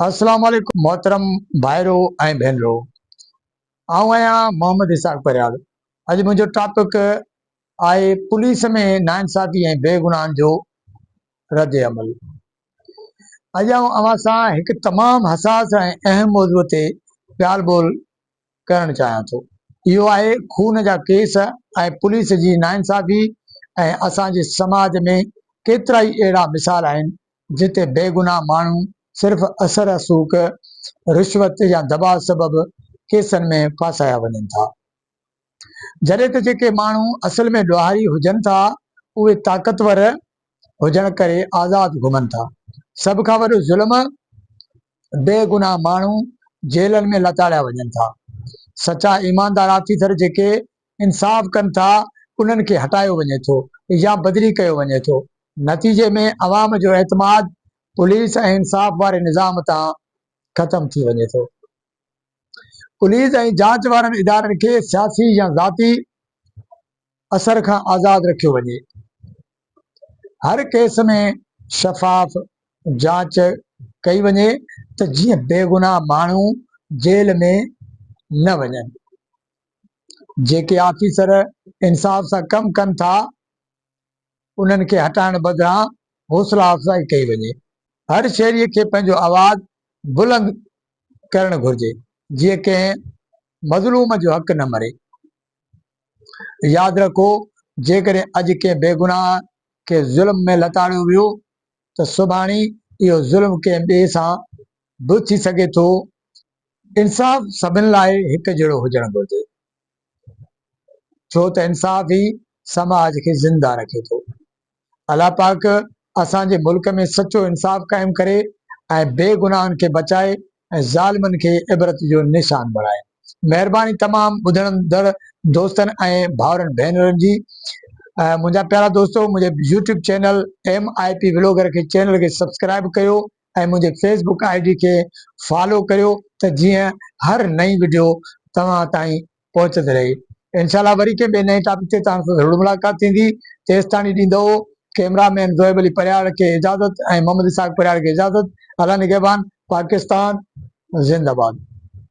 السلام عليڪم محترم ڀائرو ۽ ڀينرو آئون آهيان محمد اسحاق پرهياڙ اڄ منهنجو ٽاپڪ آهي پوليس ۾ ناانصافي ۽ بيگناهن جو رد عمل اڄ آئون اوهان سان هڪ تمام حساس ۽ اهم موضوع تي ڳالهه ٻولهه ڪرڻ چاهيان ٿو اهو آهي خون جا ڪيس ۽ پوليس جي ناانصافي ۽ اسان جي سماج ۾ ڪيترائي اهڙا مثال آهن جتي بيگناهه ماڻهو صرف اثر رسوخ رشوت يا دٻاء سبب ڪيسن ۾ ڦاسايا وڃن ٿا جڏهن ته جيڪي ماڻهو اصل ۾ ڏوهاري هجن ٿا اهي طاقتور هجڻ ڪري آزاد گهمن ٿا سڀ کان وڏو ظلم بيگناهه ماڻهو جيلن ۾ لتاڙيا وڃن ٿا، سچا ايماندار آفيسر جيڪي انصاف ڪن ٿا انهن کي هٽايو وڃي ٿو يا بدلي ڪيو وڃي ٿو، نتيجي ۾ عوام جو اعتماد پوليس ۽ انصاف واري نظام تان ختم ٿي وڃي ٿو. پوليس ۽ جاچ وارن ادارن کي سياسي يا ذاتي اثر کان آزاد رکيو وڃي. هر ڪيس ۾ شفاف جاچ ڪئي وڃي ته جيئن بيگناهه ماڻهو جيل ۾ نه وڃن. جيڪي آفيسر انصاف سان ڪم ڪن ٿا انهن کي هٽائڻ بدران حوصلا افزائي ڪئي وڃي. هر شهري کي پنهنجو آواز بلند ڪرڻ گهرجي جيئن ڪنهن مظلوم جو حق نه مري. ياد رکو جيڪڏهن اڄ ڪنهن بيگناهه کي ظلم ۾ لتاڙيو ويو ته سڀاڻي اهو ظلم ڪنهن ٻئي سان به ٿي سگهي ٿو. انصاف سڀن لاء هڪ جهڙو هجڻ گهرجي ڇو ته انصاف ئي سماج کي زنده رکي ٿو. الله پاڪ اسان جي ملڪ ۾ سچو انصاف قائم ڪري ۽ بي گناهن کي بچائي ۽ ظالمن کي عبرت جو نشان بڻائي. مهرباني تمام ٻڌڻندڙ دوستن ۽ ڀائرن ڀينرن جي منهنجا پيارا دوستو منهنجي YouTube channel M I P vlogger کي چينل کي سبسڪرائب ڪيو ۽ منهنجي فيس بڪ آء ڊي کي فالو ڪريو ته جيئن هر نئين وڊيو توهان تائين پهچندي رهي انشاء الله وري ڪنهن ٻئي نئين ٽاپڪ تي توهان سان ضرور ملاقات ٿيندي تيستاڻي ڏيندو ڪئمرا مين زوئب علي پرهياڙ کي اجازت ۽ محمد اسحاق پرهياڙ کي اجازت الله نگهبان پاڪستان زنده باد.